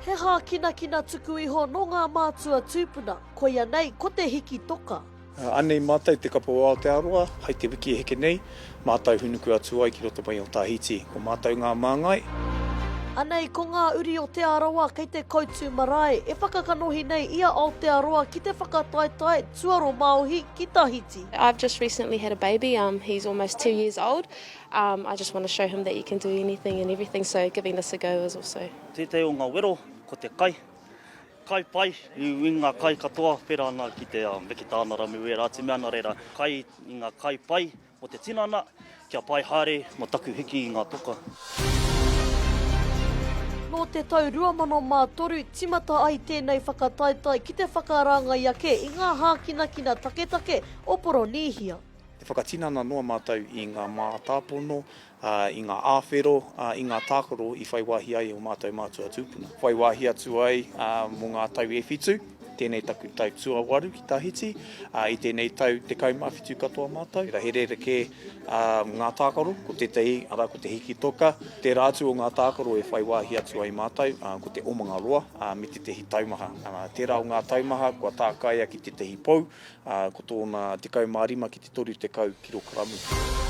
He hākinakina tuku iho nō ngā mātua tūpuna, koia nei ko te hiki toka. Anei mātou te kapa o Aotearoa hai te wiki e heke nei, mātou hunuku atu ai ki roto mai o Tahiti. Ko mātou ngā māngai. Anei ko ngā uri o Te Arawa kei te koutu marae e whakakanohi nei i a Aotearoa ki te whakataetae tuaromāohi ki Tahiti. I've just recently had a baby, um, he's almost two years old. Um I just want to show him that you can do anything and everything so giving this a go is also. Tētahi o ngā wero ko te kai. Kai pai i ngā kai katoa pērā ana ki te um, me ki tāna ramu wērā atu mea ana reira. Kai i ngā kai pai mo te tinana kia pai haere mo taku hiki i ngā toka. Nō te tau 2003 timata ai tēnei whakataetae ki te whakaraangai ake i ngā hākinakina taketake o Poronīhia. E whakatinana noa mātou i ngā mātāpono, i ngā āwhero, i ngā tākaro i whai wāhi ai e ō mātou mātua tūpuna. Whai wāhi atu ai mō ngā tau e whitu, tēnei taku tau tuawaru ki Tahiti, i tēnei tau tekau mā whitu katoa mātou. He rerekē ngā tākaro, ko tētahi, arā, ko te hiki toka. Tērā atu o ngā tākaro e whai wāhi atu ai mātou, ko te omanga roa me tētahi taumaha. Tērā o ngā taumaha kua tākaia ki tētahi pou, ā, ko tōna 15 ki te 30 kirokaramu.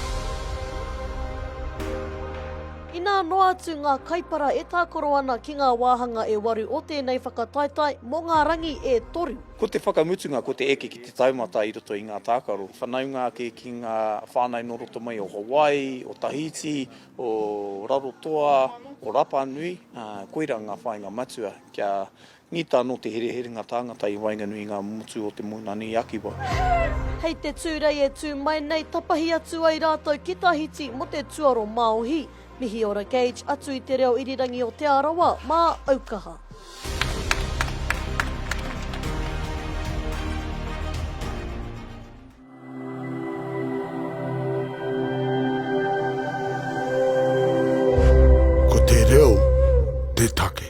Inā noa atu ngā kaipara e tākaro ana ki ngā wāhanga e waru o tēnei whakataetae mō ngā rangi e toru. Ko te whakamutunga ko te eke ki te taumata i roto i ngā tākaro, whanaunga ake ki ngā whānau nō roto mai o Hawaii, o Tahiti, o Rarotoa, o Rapanui, ā, koirā ngā whāinga matua kia Ngita anō te hereherenga tāngata i waenganui i ngā motu o Te Moananui-a-Kiwa. Hei te Tūrei e tū mai nei, tapahi atu ai rātou ki Tahiti mō te tuaro māohi. Mihi ora Gage atu i te reo irirangi o Te Arawa mā aukaha. Ko te reo te take.